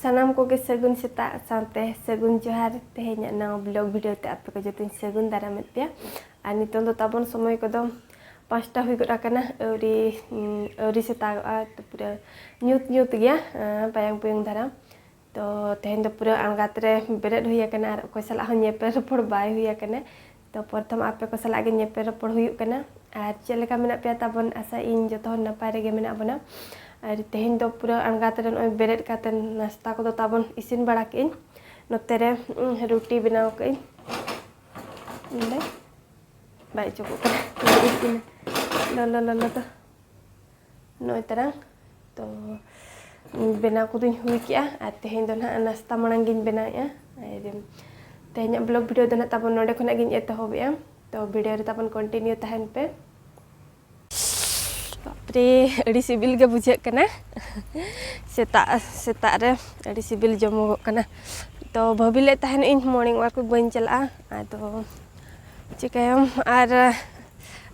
ᱥᱟᱱᱟᱢ ᱠᱚᱜᱮ ᱥᱟᱹᱜᱩᱱ ᱥᱮᱛᱟᱜ ᱥᱟᱶᱛᱮ ᱥᱟᱹᱜᱩᱱ ᱡᱚᱦᱟᱨ ᱛᱮᱦᱮᱧᱟᱜ ᱱᱟᱣᱟ ᱵᱞᱚᱜ ᱵᱷᱤᱰᱤᱭᱳ ᱛᱮ ᱟᱯᱮ ᱠᱚ ᱡᱚᱛᱚᱧ ᱥᱟᱹᱜᱩᱱ ᱫᱟᱨᱟᱢᱮᱫ ᱯᱮᱭᱟ ᱟᱨ ᱱᱤᱛᱚᱝ ᱫᱚ ᱛᱟᱵᱚᱱ ᱥᱚᱢᱚᱭ ᱠᱚᱫᱚ ᱯᱟᱸᱪᱴᱟ ᱦᱩᱭ ᱜᱚᱫ ᱟᱠᱟᱱᱟ ᱟᱹᱣᱨᱤ ᱟᱹᱣᱨᱤ ᱥᱮᱛᱟᱜᱚᱜᱼᱟ ᱛᱚ ᱯᱩᱨᱟᱹ ᱧᱩᱛ ᱧᱩᱛ ᱜᱮᱭᱟ ᱯᱟᱭᱟᱝ ᱯᱩᱭᱩᱝ ᱫᱷᱟᱨᱟ ᱛᱚ ᱛᱮᱦᱮᱧ ᱫᱚ ᱯᱩᱨᱟᱹ ᱟᱬᱜᱟᱛ ᱨᱮ ᱵᱮᱨᱮᱫ ᱦᱩᱭ ᱟᱠᱟᱱᱟ ᱟᱨ ᱚᱠᱚᱭ ᱥᱟᱞᱟᱜ ᱦᱚᱸ ᱧᱮᱯᱮᱞ ᱨᱚᱯᱚᱲ ᱵᱟᱭ ᱦᱩᱭ ᱟᱠᱟᱱᱟ ᱛᱚ ᱯᱨᱚᱛᱷᱚᱢ ᱟᱯᱮ ᱠᱚ ᱥᱟᱞᱟᱜ ᱜᱮ ᱧᱮᱯᱮᱞ ᱨᱚᱯᱚᱲ ᱦᱩᱭᱩᱜ ᱠᱟᱱᱟ ᱟᱨ ᱪᱮᱫ ᱞᱮᱠᱟ ᱢᱮᱱᱟᱜ ᱯᱮᱭᱟ ᱛᱟᱵᱚᱱ ᱟᱥᱟ ᱤᱧ ᱡᱚᱛᱚ ᱦᱚᱲ ᱱᱟᱯᱟᱭ ᱨᱮᱜᱮ ᱢᱮᱱᱟᱜ ᱵᱚᱱᱟ ᱟᱨ ᱛᱮᱦᱮᱧ ᱫᱚ ᱯᱩᱨᱟᱹ ᱟᱬᱜᱟᱛ ᱨᱮ ᱱᱚᱜᱼᱚᱭ ᱵᱮᱨᱮᱫ ᱠᱟᱛᱮ ᱱᱟᱥᱛᱟ ᱠᱚᱫᱚ ᱛᱟᱵᱚᱱ ᱤᱥᱤᱱ ᱵᱟᱲᱟ ᱠᱮᱫ ᱟᱹᱧ ᱱᱚᱛᱮ ᱨᱮ ᱨᱩᱴᱤ ᱵᱮᱱᱟᱣ ᱠᱮᱫ ᱟᱹᱧ ᱱᱚᱰᱮ ᱵᱟᱭ ᱪᱚᱠᱚᱜ ᱠᱟᱱᱟ ᱞᱚᱞᱚ ᱞᱚᱞᱚ ᱫᱚ ᱱᱚᱜᱼᱚᱭ ᱛᱟᱨᱟᱝ ᱛᱚ ᱵᱮᱱᱟᱣ ᱠᱚᱫᱚᱧ ᱦᱩᱭ ᱠᱮᱜᱼᱟ ᱟᱨ ᱛᱮᱦᱮᱧ ᱫᱚ ᱱᱟᱦᱟᱜ ᱱᱟᱥᱛᱟ ᱢᱟᱲᱟᱝ ᱜᱤᱧ ᱵᱮᱱᱟᱣᱮᱜᱼᱟ ᱟᱨ ᱛᱮᱦᱮᱧᱟᱜ ᱵᱞᱚᱜ ᱵᱷᱤᱰᱤᱭᱳ ᱫᱚ ᱱᱟᱦᱟᱜ ᱛᱟᱵᱚᱱ ᱱᱚᱰᱮ ᱠᱷᱚᱱᱟᱜ ᱜᱤᱧ ᱮᱛᱚᱦᱚᱵᱮᱜᱼᱟ ᱛᱚ ᱵᱷᱤᱰᱤᱭᱳ ᱨᱮ ᱛᱟᱵᱚᱱ ᱠᱚᱱᱴᱤᱱᱤᱭᱩ ᱛᱟᱦᱮᱱ ᱯᱮ ᱵᱟᱯᱨᱮ ᱟᱹᱰᱤ ᱥᱤᱵᱤᱞ ᱜᱮ ᱵᱩᱡᱷᱟᱹᱜ ᱠᱟᱱᱟ ᱥᱮᱛᱟᱜ ᱥᱮᱛᱟᱜ ᱨᱮ ᱟᱹᱰᱤ ᱥᱤᱵᱤᱞ ᱡᱚᱢᱚᱜᱚᱜ ᱠᱟᱱᱟ ᱛᱚ ᱵᱷᱟᱹᱵᱤ ᱞᱮᱫ ᱛᱟᱦᱮᱱ ᱤᱧ ᱢᱚᱨᱱᱤᱝ ᱚᱣᱟᱠ ᱵᱟᱹᱧ ᱪᱟᱞᱟᱜᱼᱟ ᱟᱫᱚ ᱪᱤᱠᱟᱹᱭᱟᱢ ᱟᱨ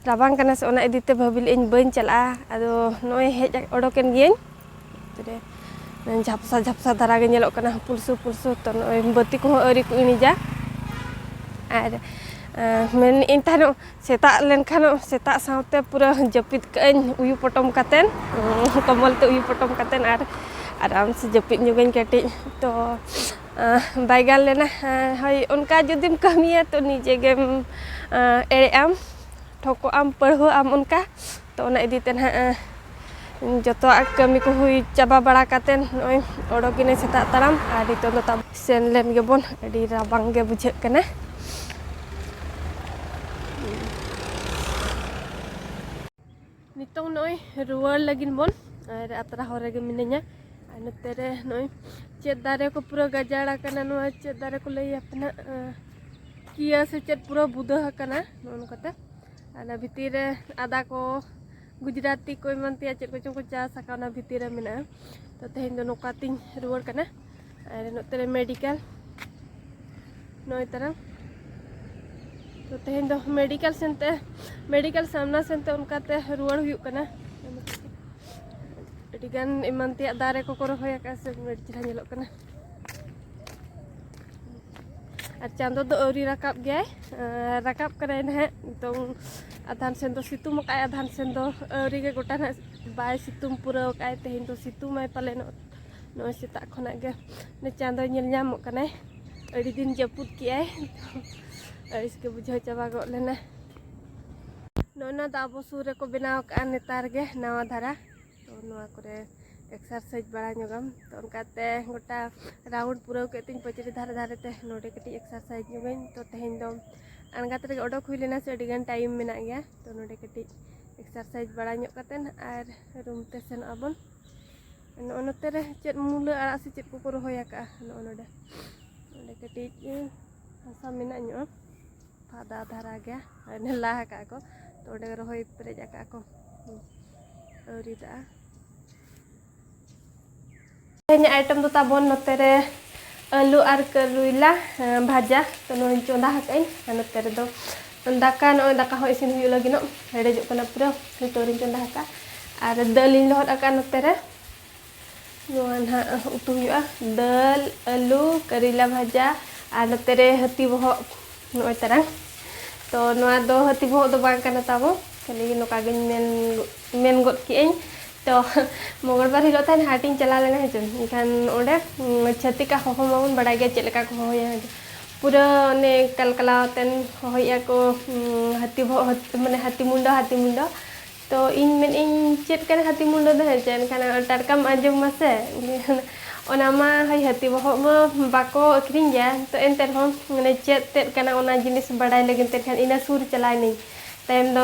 ᱨᱟᱵᱟᱝ ᱠᱟᱱᱟ ᱥᱮ ᱚᱱᱟ ᱤᱫᱤᱛᱮ ᱵᱷᱟᱹᱵᱤ ᱞᱮᱫ ᱟᱹᱧ ᱵᱟᱹᱧ ᱪᱟᱞᱟᱜᱼᱟ ᱟᱫᱚ ᱱᱚᱜᱼᱚᱭ ᱦᱮᱡ ᱚᱰᱚᱠᱮᱱ ᱜᱤᱭᱟᱹᱧ ᱛᱚᱵᱮ ᱡᱷᱟᱯᱥᱟ ᱡᱷᱟᱯᱥᱟ ᱫᱷᱟᱨᱟ ᱜᱮ ᱧᱮᱞᱚᱜ ᱠᱟᱱᱟ ᱯᱩᱞᱥᱩ ᱯᱩᱞᱥᱩ ᱛᱚ ᱱᱚᱜᱼᱚᱭ ᱵᱟᱹᱛᱤ ᱠᱚᱦᱚᱸ ᱟᱹᱣᱨᱤ ᱠᱚ ᱤᱬᱤᱡᱟ ᱟᱨ ᱢᱮᱱᱮᱫ ᱟᱹᱧ ᱛᱟᱦᱮᱱᱚᱜ ᱥᱮᱛᱟᱜ ᱞᱮᱱᱠᱷᱟᱱ ᱥᱮᱛᱟᱜ ᱥᱟᱶᱛᱮ ᱯᱩᱨᱟᱹ ᱡᱟᱹᱯᱤᱫ ᱠᱟᱜ ᱟᱹᱧ ᱩᱭᱩ ᱯᱚᱴᱚᱢ ᱠᱟᱛᱮᱫ ᱠᱚᱢᱵᱚᱞ ᱛᱮ ᱩᱭᱩ ᱯᱚᱴᱚᱢ ᱠᱟᱛᱮᱫ ᱟᱨ ᱟᱨᱟᱢ ᱥᱮ ᱡᱟᱹᱯᱤᱫ ᱧᱚᱜᱟᱹᱧ ᱠᱟᱹᱴᱤᱡ ᱛᱚ ᱵᱟᱭ ᱜᱟᱱ ᱞᱮᱱᱟ ᱦᱳᱭ ᱚᱱᱠᱟ ᱡᱩᱫᱤᱢ ᱠᱟᱹᱢᱤᱭᱟ ᱛᱚ ᱱᱤᱡᱮ ᱜᱮᱢ ᱮᱲᱮᱜ ᱟᱢ ᱴᱷᱚᱠᱚᱜ ᱟᱢ ᱯᱟᱹᱲᱦᱟᱹᱜ ᱟᱢ ᱚᱱᱠᱟ ᱛᱚ ᱚᱱᱟ ᱤᱫᱤ ᱛᱮ ᱱᱟᱦᱟᱜ ᱡᱚᱛᱚᱣᱟᱜ ᱠᱟᱹᱢᱤ ᱠᱚ ᱦᱩᱭ ᱪᱟᱵᱟ ᱵᱟᱲᱟ ᱠᱟᱛᱮ ᱱᱚᱜᱼᱚᱸᱭ ᱚᱰᱚᱠ ᱮᱱᱟᱹᱧ ᱥᱮᱛᱟᱜ ᱛᱟᱲᱟᱢ ᱟᱨ ᱱᱤᱛᱚᱜ ᱫᱚ ᱛᱟᱵᱚᱱ ᱥᱮᱱ ᱞᱮᱱ ᱜᱮᱵᱚᱱ ᱟᱹᱰᱤ ᱨᱟᱵᱟᱝ ᱜᱮ ᱵᱩᱡᱷᱟᱹᱜ ᱠᱟᱱᱟ ᱱᱤᱛᱚᱝ ᱱᱚᱜᱼᱚᱭ ᱨᱩᱣᱟᱹᱲ ᱞᱟᱹᱜᱤᱫ ᱵᱚᱱ ᱟᱨ ᱟᱛᱨᱟ ᱦᱚᱨ ᱨᱮᱜᱮ ᱢᱤᱱᱟᱹᱧᱟ ᱟᱨ ᱱᱚᱛᱮ ᱨᱮ ᱱᱚᱜᱼᱚᱭ ᱪᱮᱫ ᱫᱟᱨᱮ ᱠᱚ ᱯᱩᱨᱟᱹ ᱜᱟᱡᱟᱲ ᱟᱠᱟᱱᱟ ᱱᱚᱣᱟ ᱪᱮᱫ ᱫᱟᱨᱮ ᱠᱚ ᱞᱟᱹᱭᱟ ᱯᱮᱱᱟ ᱠᱤᱭᱟᱹ ᱥᱮ ᱪᱮᱫ ᱯᱩᱨᱟᱹ ᱵᱩᱫᱟᱹ ᱟᱠᱟᱱᱟ ᱱᱚᱜᱼᱚ ᱱᱚᱝᱠᱟᱛᱮ ᱟᱨ ᱚᱱᱟ ᱵᱷᱤᱛᱤᱨ ᱨᱮ ᱟᱫᱟ ᱠᱚ ᱜᱩᱡᱽᱨᱟᱛᱤ ᱠᱚ ᱮᱢᱟᱱ ᱛᱮᱭᱟᱜ ᱪᱮᱫ ᱠᱚᱪᱚᱝ ᱠᱚ ᱪᱟᱥ ᱟᱠᱟᱫ ᱚᱱᱟ ᱵᱷᱤᱛᱤᱨ ᱨᱮ ᱢᱮᱱᱟᱜᱼᱟ ᱛᱚ ᱛᱮᱦᱮᱧ ᱫᱚ ᱱᱚᱝᱠᱟ ᱛᱤᱧ ᱨᱩᱣᱟᱹᱲ ᱠᱟᱱᱟ ᱟᱨ ᱱᱚᱛᱮ ᱨᱮ ᱢᱮᱰᱤᱠᱮᱞ ᱱᱚᱜᱼᱚᱭ ᱛᱟᱨᱟ ᱛᱚ ᱛᱮᱦᱮᱧ ᱫᱚ ᱢᱮᱰᱤᱠᱮᱞ ᱥᱮᱱᱛᱮ ᱢᱮᱰᱤᱠᱮᱞ ᱥᱟᱢᱱᱟ ᱥᱮᱱᱛᱮ ᱚᱱᱠᱟᱛᱮ ᱨᱩᱣᱟᱹᱲ ᱦᱩᱭᱩᱜ ᱠᱟᱱᱟ ᱟᱹᱰᱤᱜᱟᱱ ᱮᱢᱟᱱ ᱛᱮᱭᱟᱜ ᱫᱟᱨᱮ ᱠᱚᱠᱚ ᱨᱚᱦᱚᱭ ᱟᱠᱟᱫᱼᱟ ᱥᱮ ᱟᱹᱰᱤ ᱪᱮᱦᱨᱟ ᱧᱮᱞᱚᱜ ᱠᱟᱱᱟ ᱟᱨ ᱪᱟᱸᱫᱚ ᱫᱚ ᱟᱹᱣᱨᱤ ᱨᱟᱠᱟᱵ ᱜᱮᱭᱟᱭ ᱨᱟᱠᱟᱵ ᱠᱟᱱᱟᱭ ᱱᱟᱦᱟᱜ ᱱᱤᱛᱚᱝ ᱟᱫᱷᱟᱱ ᱥᱮᱱ ᱫᱚ ᱥᱤᱛᱩᱝ ᱟᱠᱟᱫᱼᱟᱭ ᱟᱫᱷᱟᱱ ᱥᱮᱱ ᱫᱚ ᱟᱹᱣᱨᱤ ᱜᱮ ᱜᱚᱴᱟ ᱱᱟᱦᱟᱜ ᱵᱟᱭ ᱥᱤᱛᱩᱝ ᱯᱩᱨᱟᱹᱣ ᱟᱠᱟᱫᱼᱟᱭ ᱛᱮᱦᱮᱧ ᱫᱚ ᱥᱤᱛᱩᱝᱟᱭ ᱯᱟᱞᱮᱱᱚᱜ ᱱᱚᱜᱼᱚᱭ ᱥᱮᱛᱟᱜ ᱠᱷᱚᱱᱟᱜ ᱜᱮ ᱪᱟᱸᱫᱚᱭ ᱧᱮᱞ ᱧᱟᱢᱚᱜ ᱠᱟᱱᱟᱭ ᱟᱹᱰᱤ ᱫᱤᱱ ᱡᱟᱹᱯᱩᱫ ᱠᱮᱜᱼᱟᱭ ᱟᱹᱲᱤᱥ ᱜᱮ ᱵᱩᱡᱷᱟᱹᱣ ᱪᱟᱵᱟ ᱜᱚᱫ ᱞᱮᱱᱟ ᱱᱚᱜᱼᱚ ᱫᱚ ᱟᱵᱚ ᱥᱩᱨ ᱨᱮᱠᱚ ᱵᱮᱱᱟᱣ ᱠᱟᱜᱼᱟ ᱱᱮᱛᱟᱨ ᱜᱮ ᱱᱟᱣᱟ ᱫᱷᱟᱨᱟ ᱛᱚ ᱱᱚᱣᱟ ᱠᱚᱨᱮ ᱮᱠᱥᱟᱨᱥᱟᱭᱤᱡᱽ ᱵᱟᱲᱟ ᱧᱚᱜᱟᱢ ᱛᱚ ᱚᱱᱠᱟᱛᱮ ᱜᱚᱴᱟ ᱨᱟᱣᱩᱱᱰ ᱯᱩᱨᱟᱹᱣ ᱠᱮᱫ ᱛᱤᱧ ᱯᱟᱹᱪᱨᱤ ᱫᱷᱟᱨᱮ ᱫᱷᱟᱨᱮ ᱛᱮ ᱱᱚᱰᱮ ᱠᱟᱹᱴᱤᱡ ᱮᱠᱥᱟᱨᱥᱟᱭᱤᱡᱽ ᱧᱚᱜᱟᱹᱧ ᱛᱚ ᱛᱮᱦᱮᱧ ᱫᱚ ᱟᱬᱜᱟᱛ ᱨᱮᱜᱮ ᱚᱰᱚᱠ ᱦᱩᱭ ᱞᱮᱱᱟ ᱥᱮ ᱟᱹᱰᱤᱜᱟᱱ ᱴᱟᱭᱤᱢ ᱢᱮᱱᱟᱜ ᱜᱮᱭᱟ ᱛᱚ ᱱᱚᱰᱮ ᱠᱟᱹᱴᱤᱡ ᱮᱠᱥᱟᱨᱥᱟᱭᱤᱡᱽ ᱵᱟᱲᱟ ᱧᱚᱜ ᱠᱟᱛᱮᱫ ᱟᱨ ᱨᱩᱢ ᱛᱮ ᱥᱮᱱᱚᱜ ᱟᱵᱚᱱ ᱱᱚᱜᱼᱚ ᱱᱚᱛᱮ ᱨᱮ ᱪᱮᱫ ᱢᱩᱞᱟᱹ ᱟᱲᱟᱜ ᱥᱮ ᱪᱮᱫ ᱠᱚᱠᱚ ᱨᱚᱦᱚᱭ ᱟᱠᱟᱜᱼᱟ ᱱᱚᱜᱼᱚ ᱱᱚᱰᱮ ᱚᱸᱰᱮ ᱠᱟᱹᱴᱤᱡ ᱦᱟᱥᱟ ᱢᱮᱱᱟᱜ ᱧᱚᱜᱼᱟ ᱯᱷᱟᱫᱟ ᱫᱷᱟᱨᱟ ᱜᱮᱭᱟ ᱚᱱᱮ ᱞᱟ ᱟᱠᱟᱜᱼᱟ ᱠᱚ ᱛᱚ ᱚᱸᱰᱮ ᱨᱚᱦᱚᱭ ᱯᱮᱨᱮᱡ ᱟᱠᱟᱜᱼᱟ ᱠᱚ ᱟᱹᱣᱨᱤ ᱫᱟᱜᱼᱟ ᱛᱮᱦᱮᱧᱟᱜ ᱟᱭᱴᱮᱢ ᱫᱚ ᱛᱟᱵᱚᱱ ᱱᱚᱛᱮ ᱨᱮ ᱟᱹᱞᱩ ᱟᱨ ᱠᱟᱹᱨᱩᱭᱞᱟ ᱵᱷᱟᱡᱟ ᱛᱚ ᱱᱚᱣᱟᱧ ᱪᱚᱸᱫᱟ ᱟᱠᱟᱜᱼᱟᱹᱧ ᱟᱨ ᱱᱚᱛᱮ ᱨᱮᱫᱚ ᱫᱟᱠᱟ ᱱᱚᱜᱼᱚᱭ ᱫᱟᱠᱟ ᱦᱚᱸ ᱤᱥᱤᱱ ᱦᱩᱭᱩᱜ ᱞᱟᱹᱜᱤᱫᱚᱜ ᱦᱮᱰᱮᱡᱚᱜ ᱠᱟᱱᱟ ᱯᱩᱨᱟᱹ ᱱᱤᱛᱚᱜ ᱨᱤᱧ ᱪᱚᱸᱫᱟ ᱟᱠᱟᱫᱼᱟ ᱟᱨ ᱫᱟᱹᱞ ᱤᱧ ᱞᱚᱦᱚᱫ ᱟᱠᱟᱫᱼᱟ ᱱᱚᱛᱮ ᱨᱮ ᱱᱚᱣᱟ ᱱᱟᱦᱟᱜ ᱩᱛᱩ ᱦᱩᱭᱩᱜᱼᱟ ᱫᱟᱹᱞ ᱟᱹᱞᱩ ᱠᱟᱨᱤᱞᱟ ᱵᱷᱟᱡᱟ ᱟᱨ ᱱᱚᱛᱮ ᱨᱮ ᱦᱟᱹᱛᱤ ᱵᱚᱦᱚᱜ ᱱᱚᱜᱼᱚᱭ ᱛᱟᱨᱟᱝ ᱛᱚ ᱱᱚᱣᱟ ᱫᱚ ᱦᱟᱹᱛᱤ ᱵᱚᱦᱚᱜ ᱫᱚ ᱵᱟᱝ ᱠᱟᱱᱟ ᱛᱟᱵᱚ ᱠᱷᱟᱹᱞᱤ ᱱᱚᱝᱠᱟ ᱜᱤᱧ ᱢᱮᱱ ᱢᱮᱱ ᱜᱚᱫ ᱠᱮᱜᱼᱟᱹᱧ ᱛᱚ ᱢᱚᱝᱜᱚᱞᱵᱟᱨ ᱦᱤᱞᱳᱜ ᱛᱟᱦᱮᱱ ᱦᱟᱴᱤᱧ ᱪᱟᱞᱟᱣ ᱞᱮᱱᱟ ᱦᱮᱸᱪᱮ ᱮᱱᱠᱷᱟᱱ ᱚᱸᱰᱮ ᱪᱷᱟᱹᱛᱤᱠᱟᱜ ᱦᱚᱦᱚ ᱢᱟᱵᱚᱱ ᱵᱟᱲᱟᱭ ᱜᱮᱭᱟ ᱪᱮᱫ ᱞᱮᱠᱟ ᱠᱚ ᱦᱚᱦᱚᱭᱟ ᱯᱩᱨᱟᱹ ᱚᱱᱮ ᱠᱟᱞᱠᱟᱞᱟᱣ ᱟᱛᱮᱱ ᱦᱚᱦᱚᱭᱮᱜᱼᱟ ᱠᱚ ᱦᱟᱹᱛᱤ ᱵᱚᱦᱚᱜ ᱢᱟᱱᱮ ᱦᱟᱹᱛᱤ ᱢᱩᱸᱰᱟᱹ ᱦᱟᱹᱛᱤ ᱢᱩᱸᱰᱟᱹ ᱛᱚ ᱤᱧ ᱢᱮᱱ ᱤᱧ ᱪᱮᱫ ᱠᱟᱱᱟ ᱦᱟᱹᱛᱤ ᱢᱩᱸᱰᱟᱹ ᱫᱚ ᱦᱮᱸᱪᱮ ᱮᱱᱠᱷᱟᱱ ᱴᱟᱴᱠᱟᱢ ᱟᱸᱡᱚᱢ ᱢᱟᱥᱮ ᱚᱱᱟ ᱢᱟ ᱦᱳᱭ ᱦᱟᱹᱛᱤ ᱵᱚᱦᱚᱜ ᱢᱟ ᱵᱟᱠᱚ ᱟᱹᱠᱷᱨᱤᱧ ᱜᱮᱭᱟ ᱛᱚ ᱮᱱᱛᱮ ᱨᱮᱦᱚᱸ ᱢᱟᱱᱮ ᱪᱮᱫ ᱛᱮᱫ ᱠᱟᱱᱟ ᱚᱱᱟ ᱡᱤᱱᱤᱥ ᱵᱟᱰᱟᱭ ᱞᱟᱹᱜᱤᱫ ᱛᱮ ᱮᱱᱠᱷᱟᱱ ᱤᱱᱟᱹ ᱥᱩᱨ ᱪᱟᱞᱟᱣ ᱮᱱᱟᱹᱧ ᱛᱟᱭᱚᱢ ᱫᱚ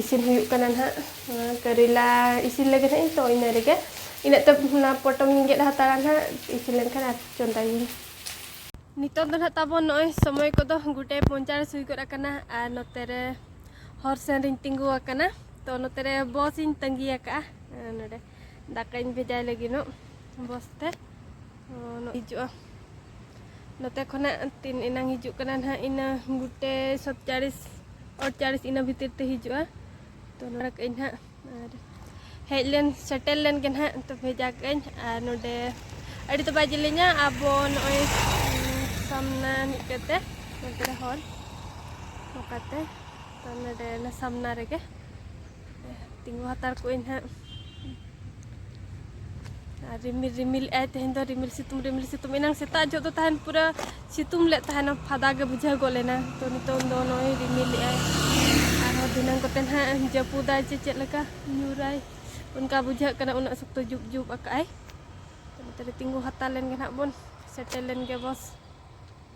ᱤᱥᱤᱱ ᱦᱩᱭᱩᱜ ᱠᱟᱱᱟ ᱱᱟᱦᱟᱜ ᱠᱟᱨᱮᱞᱟ ᱤᱥᱤᱱ ᱞᱟᱹᱜᱤᱫ ᱦᱟᱸᱜ ᱤᱧ ᱛᱚ ᱤᱱᱟᱹ ᱨᱮᱜᱮ ᱤᱱᱟᱹᱜ ᱛᱮ ᱚᱱᱟ ᱯᱚᱴᱚᱢ ᱤᱧ ᱜᱮᱫ ᱦᱟᱛᱟᱲᱟ ᱱᱟᱦᱟᱜ ᱤᱥᱤᱱ ᱞᱮᱱᱠᱷᱟᱱ ᱟᱨ ᱪᱚᱸᱫᱟᱭᱟᱹᱧ ᱱᱤᱛᱚᱜ ᱫᱚ ᱱᱟᱦᱟᱜ ᱛᱟᱵᱚᱱ ᱱᱚᱜᱼᱚᱭ ᱥᱚᱢᱚᱭ ᱠᱚᱫᱚ ᱜᱩᱴᱮ ᱯᱚᱧᱪᱟᱲᱤᱥ ᱦᱩᱭ ᱜᱚᱫ ᱟᱠᱟᱱᱟ ᱟᱨ ᱱᱚᱛᱮ ᱨᱮ ᱦᱚᱨ ᱥᱮᱱ ᱨᱤᱧ ᱛᱤᱸᱜᱩ ᱟᱠᱟᱱᱟ ᱛᱚ ᱱᱚᱛᱮ ᱨᱮ ᱵᱚᱥ ᱤᱧ ᱛᱟᱺᱜᱤ ᱟᱠᱟᱫᱼᱟ ᱱᱚᱰᱮ ᱫᱟᱠᱟᱧ ᱵᱷᱮᱡᱟᱭ ᱞᱟᱹᱜᱤᱫᱚᱜ ᱵᱚᱥᱛᱮ ᱦᱤᱡᱩᱜᱼᱟ ᱱᱚᱛᱮ ᱠᱷᱚᱱᱟᱜ ᱛᱤᱱ ᱮᱱᱟᱝ ᱦᱤᱡᱩᱜ ᱠᱟᱱᱟ ᱱᱟᱦᱟᱜ ᱤᱱᱟᱹ ᱜᱩᱴᱮ ᱥᱚᱛᱪᱟᱲᱤᱥ ᱚᱴᱪᱟᱲᱤᱥ ᱤᱱᱟᱹ ᱵᱷᱤᱛᱤᱨ ᱛᱮ ᱦᱤᱡᱩᱜᱼᱟ ᱛᱚ ᱱᱚᱰᱮ ᱠᱟᱜ ᱟᱹᱧ ᱱᱟᱦᱟᱜ ᱟᱨ ᱦᱮᱡ ᱞᱮᱱ ᱥᱮᱴᱮᱨ ᱞᱮᱱ ᱜᱮ ᱱᱟᱦᱟᱜ ᱛᱚ ᱵᱷᱮᱡᱟ ᱠᱟᱜ ᱟᱹᱧ ᱟᱨ ᱱᱚᱰᱮ ᱟᱹᱰᱤ ᱫᱚ ᱵᱟᱭ ᱡᱮᱞᱮᱧᱟ ᱟᱵᱚ ᱱᱚᱜᱼᱚᱭ ᱥᱟᱢᱱᱟ ᱢᱤᱫ ᱠᱟᱛᱮ ᱱᱚᱛᱮ ᱨᱮ ᱦᱚᱲ ᱱᱚᱝᱠᱟᱛᱮ ᱛᱚ ᱱᱚᱰᱮ ᱥᱟᱢᱱᱟ ᱨᱮᱜᱮ ᱛᱤᱸᱜᱩ ᱦᱟᱛᱟᱲ ᱠᱚᱜ ᱟᱹᱧ ᱦᱟᱸᱜ ᱟᱨ ᱨᱤᱢᱤᱞ ᱨᱤᱢᱤᱞ ᱮᱜ ᱟᱭ ᱛᱮᱦᱮᱧ ᱫᱚ ᱨᱤᱢᱤᱞ ᱥᱤᱛᱩᱝ ᱨᱤᱢᱤᱞ ᱥᱤᱛᱩᱝ ᱮᱱᱟᱝ ᱥᱮᱛᱟᱜ ᱡᱚᱜ ᱫᱚ ᱛᱟᱦᱮᱱ ᱯᱩᱨᱟᱹ ᱥᱤᱛᱩᱝ ᱞᱮᱫ ᱛᱟᱦᱮᱱᱟ ᱯᱷᱟᱫᱟ ᱜᱮ ᱵᱩᱡᱷᱟᱹᱣ ᱜᱚᱫ ᱞᱮᱱᱟ ᱛᱚ ᱱᱤᱛᱚᱝ ᱫᱚ ᱱᱚᱜᱼᱚᱭ ᱨᱤᱢᱤᱞ ᱮᱜ ᱟᱭ ᱟᱨᱦᱚᱸ ᱫᱷᱤᱱᱟᱹᱝ ᱠᱚᱛᱮ ᱱᱟᱦᱟᱜ ᱡᱟᱹᱯᱩᱫᱟᱭ ᱪᱮ ᱪᱮᱫ ᱞᱮᱠᱟ ᱧᱩᱨᱟᱭ ᱚᱱᱠᱟ ᱵᱩᱡᱷᱟᱹᱜ ᱠᱟᱱᱟ ᱩᱱᱟᱹᱜ ᱥᱚᱠᱛᱚ ᱡᱩᱵ ᱡᱩᱵ ᱟᱠᱟᱜ ᱟᱭ ᱛᱚ ᱱᱚᱛᱮ ᱨᱮ ᱛᱤᱸᱜᱩ ᱦᱟᱛᱟᱲ ᱞᱮᱱ ᱜᱮ ᱱᱟᱦᱟᱜ ᱵᱚᱱ ᱥᱮᱴᱮᱨ ᱞᱮᱱ ᱜᱮ ᱵᱚᱥ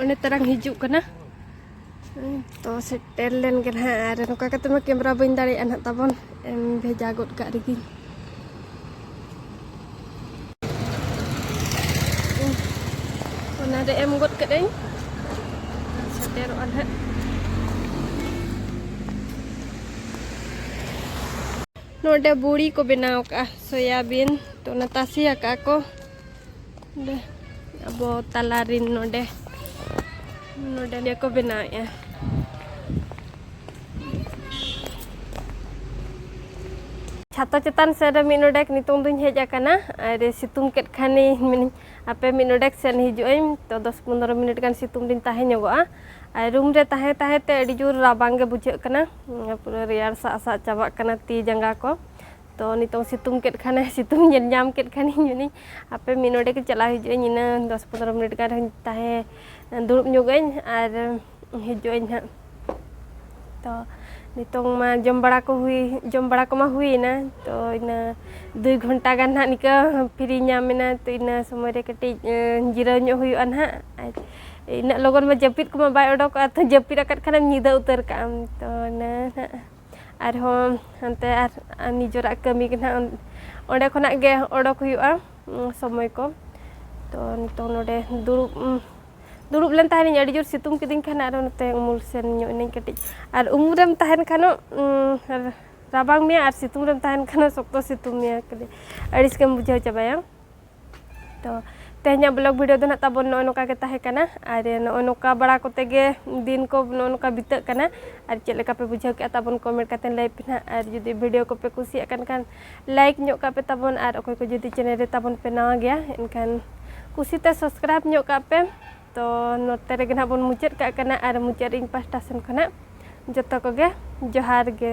ᱚᱱᱮ ᱛᱟᱨᱟᱝ ᱦᱤᱡᱩᱜ ᱠᱟᱱᱟ ᱛᱚ ᱥᱮᱴᱮᱨ ᱞᱮᱱ ᱜᱮ ᱱᱟᱦᱟᱜ ᱟᱨ ᱱᱚᱝᱠᱟ ᱠᱟᱛᱮ ᱢᱟ ᱠᱮᱢᱮᱨᱟ ᱵᱟᱹᱧ ᱫᱟᱲᱮᱭᱟᱜᱼᱟ ᱱᱟᱦᱟᱜ ᱛᱟᱵᱚᱱ ᱮᱢ ᱵᱷᱮᱡᱟ ᱜᱚᱫ ᱠᱟᱜ ᱨᱮᱜᱮ ᱚᱱᱟᱨᱮ ᱮᱢ ᱜᱚᱫ ᱠᱟᱹᱫᱟᱹᱧ ᱥᱮᱴᱮᱨᱚᱜᱼᱟ ᱱᱟᱦᱟᱜ ᱱᱚᱰᱮ ᱵᱩᱲᱤ ᱠᱚ ᱵᱮᱱᱟᱣ ᱠᱟᱜᱼᱟ ᱥᱚᱭᱟᱵᱤᱱ ᱛᱚ ᱚᱱᱟ ᱛᱟᱥᱮ ᱟᱠᱟᱫ ᱠᱚ ᱱᱚᱰᱮ ᱟᱵᱚ ᱛᱟᱞᱟ ᱨᱤᱱ ᱱᱚᱰᱮ ᱱᱚᱰᱮ ᱱᱤᱭᱟᱹ ᱠᱚ ᱵᱮᱱᱟᱣᱮᱫᱼᱟ ᱪᱷᱟᱛᱟ ᱪᱮᱛᱟᱱ ᱥᱮᱫ ᱨᱮ ᱢᱤᱫ ᱱᱚᱰᱮᱠ ᱱᱤᱛᱚᱝ ᱫᱚᱧ ᱦᱮᱡ ᱟᱠᱟᱱᱟ ᱟᱨ ᱥᱤᱛᱩᱝ ᱠᱮᱫ ᱠᱷᱟᱱᱤᱧ ᱢᱮᱱᱟᱹᱧ ᱟᱯᱮ ᱢᱤᱫ ᱱᱚᱰᱮᱠ ᱥᱮᱫ ᱦᱤᱡᱩᱜ ᱟᱹᱧ ᱛᱚ ᱫᱚᱥ ᱯᱚᱱᱨᱚ ᱢᱤᱱᱤᱴ ᱜᱟᱱ ᱥᱤᱛᱩᱝ ᱨᱤᱧ ᱛᱟᱦᱮᱸ ᱧᱚᱜᱚᱜᱼᱟ ᱟᱨ ᱨᱩᱢ ᱨᱮ ᱛᱟᱦᱮᱸ ᱛᱟᱦᱮᱸ ᱛᱮ ᱟᱹᱰᱤ ᱡᱳᱨ ᱨᱟᱵᱟᱝ ᱜᱮ ᱵᱩᱡᱷᱟᱹᱜ ᱠᱟᱱᱟ ᱯᱩᱨᱟᱹ ᱨᱮᱭᱟᱲ ᱥᱟᱜ ᱥᱟᱜ ᱪᱟᱵᱟᱜ ᱠᱟᱱᱟ ᱛᱤ ᱡᱟᱸᱜᱟ ᱠᱚ ᱛᱚ ᱱᱤᱛᱚᱝ ᱥᱤᱛᱩᱝ ᱠᱮᱫ ᱠᱷᱟᱱᱮ ᱥᱤᱛᱩᱝ ᱧᱮᱞ ᱧᱟᱢ ᱠᱮᱫ ᱠᱷᱟᱱᱤᱧ ᱢᱮᱱᱤᱧ ᱟᱯᱮ ᱢᱤᱫ ᱱᱚᱰᱮ ᱜᱮ ᱪᱟᱞᱟᱣ ᱦᱤᱡᱩᱜ ᱟᱹᱧ ᱤᱱᱟᱹ ᱫᱚᱥ ᱯᱚᱱᱨᱚ ᱢᱤᱱᱤᱴ ᱜᱟᱱ ᱨᱮᱦᱚᱸᱧ ᱛᱟᱦᱮᱸ ᱫᱩᱲᱩᱵ ᱧᱚᱜ ᱟᱹᱧ ᱟᱨ ᱦᱤᱡᱩᱜ ᱟᱹᱧ ᱦᱟᱸᱜ ᱛᱚ ᱱᱤᱛᱚᱝ ᱢᱟ ᱡᱚᱢ ᱵᱟᱲᱟ ᱠᱚ ᱦᱩᱭ ᱡᱚᱢ ᱵᱟᱲᱟ ᱠᱚᱢᱟ ᱦᱩᱭᱮᱱᱟ ᱛᱚ ᱤᱱᱟᱹ ᱫᱩᱭ ᱜᱷᱚᱱᱴᱟ ᱜᱟᱱ ᱦᱟᱸᱜ ᱱᱤᱠᱟᱹ ᱯᱷᱨᱤ ᱧᱟᱢ ᱮᱱᱟ ᱛᱚ ᱤᱱᱟᱹ ᱥᱚᱢᱚᱭ ᱨᱮ ᱠᱟᱹᱴᱤᱡ ᱡᱤᱨᱟᱹᱣ ᱧᱚᱜ ᱦᱩᱭᱩᱜᱼᱟ ᱦᱟᱸᱜ ᱟᱨ ᱤᱱᱟᱹᱜ ᱞᱚᱜᱚᱱ ᱢᱟ ᱡᱟᱹᱯᱤᱫ ᱠᱚᱢᱟ ᱵᱟᱭ ᱚᱰᱚᱠᱚᱜᱼᱟ ᱛᱚ ᱡᱟᱹᱯᱤᱫ ᱟᱠᱟᱫ ᱠᱷᱟᱱᱮᱢ ᱧᱤᱫᱟᱹ ᱩᱛᱟᱹᱨ ᱠᱟᱜᱼᱟᱢ ᱛᱚ ᱤᱱᱟᱹ ᱦᱟᱸᱜ ᱟᱨᱦᱚᱸ ᱦᱟᱱᱛᱮ ᱟᱨ ᱱᱤᱡᱮᱨᱟᱜ ᱠᱟᱹᱢᱤ ᱜᱮ ᱱᱟᱦᱟᱜ ᱚᱸᱰᱮ ᱠᱷᱚᱱᱟᱜ ᱜᱮ ᱚᱰᱚᱠ ᱦᱩᱭᱩᱜᱼᱟ ᱥᱚᱢᱚᱭ ᱠᱚ ᱛᱚ ᱱᱤᱛᱚᱝ ᱱᱚᱰᱮ ᱫᱩᱲᱩᱵ ᱫᱩᱲᱩᱵ ᱞᱮᱱ ᱛᱟᱦᱮᱱᱤᱧ ᱟᱹᱰᱤ ᱡᱳᱨ ᱥᱤᱛᱩᱝ ᱠᱤᱫᱤᱧ ᱠᱷᱟᱱ ᱟᱨᱚ ᱱᱚᱛᱮ ᱩᱢᱩᱞ ᱥᱮᱱ ᱧᱚᱜ ᱮᱱᱟᱹᱧ ᱠᱟᱹᱴᱤᱡ ᱟᱨ ᱩᱢᱩᱞ ᱨᱮᱢ ᱛᱟᱦᱮᱱ ᱠᱷᱟᱱ ᱨᱟᱵᱟᱝ ᱢᱮᱭᱟ ᱟᱨ ᱥᱤᱛᱩᱝ ᱨᱮᱢ ᱛᱟᱦᱮᱱ ᱠᱷᱟᱱ ᱥᱚᱠᱛᱚ ᱥᱤᱛᱩᱝ ᱢᱮᱭᱟ ᱠᱷᱟᱹᱞᱤ ᱟᱹᱲᱤᱥ ᱜᱮᱢ ᱵᱩᱡᱷᱟᱹᱣ ᱪᱟᱵᱟᱭᱟ ᱛᱚ ᱛᱮᱦᱮᱧᱟᱜ ᱵᱞᱚᱜᱽ ᱵᱷᱤᱰᱤᱭᱳ ᱫᱚ ᱱᱟᱦᱟᱜ ᱛᱟᱵᱚᱱ ᱱᱚᱜᱼᱚᱭ ᱱᱚᱝᱠᱟ ᱜᱮ ᱛᱟᱦᱮᱸ ᱠᱟᱱᱟ ᱟᱨ ᱱᱚᱜᱼᱚᱭ ᱱᱚᱝᱠᱟ ᱵᱟᱲᱟ ᱠᱚᱛᱮ ᱜᱮ ᱫᱤᱱ ᱠᱚ ᱱᱚᱜᱼᱚᱭ ᱱᱚᱝᱠᱟ ᱵᱤᱛᱟᱹᱜ ᱠᱟᱱᱟ ᱟᱨ ᱪᱮᱫ ᱞᱮᱠᱟ ᱯᱮ ᱵᱩᱡᱷᱟᱹᱣ ᱠᱮᱜᱼᱟ ᱛᱟᱵᱚᱱ ᱠᱚᱢᱮᱱᱴ ᱠᱟᱛᱮ ᱞᱟᱹᱭ ᱯᱮ ᱱᱟᱦᱟᱜ ᱟᱨ ᱡᱩᱫᱤ ᱵᱷᱤᱰᱤᱭᱳ ᱠᱚᱯᱮ ᱠᱩᱥᱤᱭᱟᱜ ᱠᱟᱱ ᱠᱷᱟᱱ ᱞᱟᱭᱤᱠ ᱧᱚᱜ ᱠᱟᱜ ᱯᱮ ᱛᱟᱵᱚᱱ ᱟᱨ ᱚᱠᱚᱭ ᱠᱚ ᱡᱩᱫᱤ ᱪᱮᱱᱮᱞ ᱨᱮ ᱛᱟᱵᱚᱱ ᱯᱮ ᱱᱟᱣᱟ ᱜᱮᱭᱟ ᱮᱱᱠᱷᱟᱱ ᱠᱩᱥᱤᱛᱮ ᱥᱟᱵᱥᱠᱨᱟᱭᱤᱵ ᱧᱚᱜ ᱠᱟᱜ ᱯᱮ ᱛᱚ ᱱᱚᱛᱮ ᱨᱮᱜᱮ ᱱᱟᱦᱟᱜ ᱵᱚᱱ ᱢᱩᱪᱟᱹᱫ ᱠᱟᱜ ᱠᱟᱱᱟ ᱟᱨ ᱢᱩᱪᱟᱹᱫ ᱨᱮ ᱤᱧ ᱯᱟᱥᱴᱟ ᱥᱮᱱ ᱠᱷᱚᱱᱟᱜ ᱡᱚᱛᱚ ᱠᱚᱜᱮ ᱡᱚᱦᱟᱨ ᱜᱮ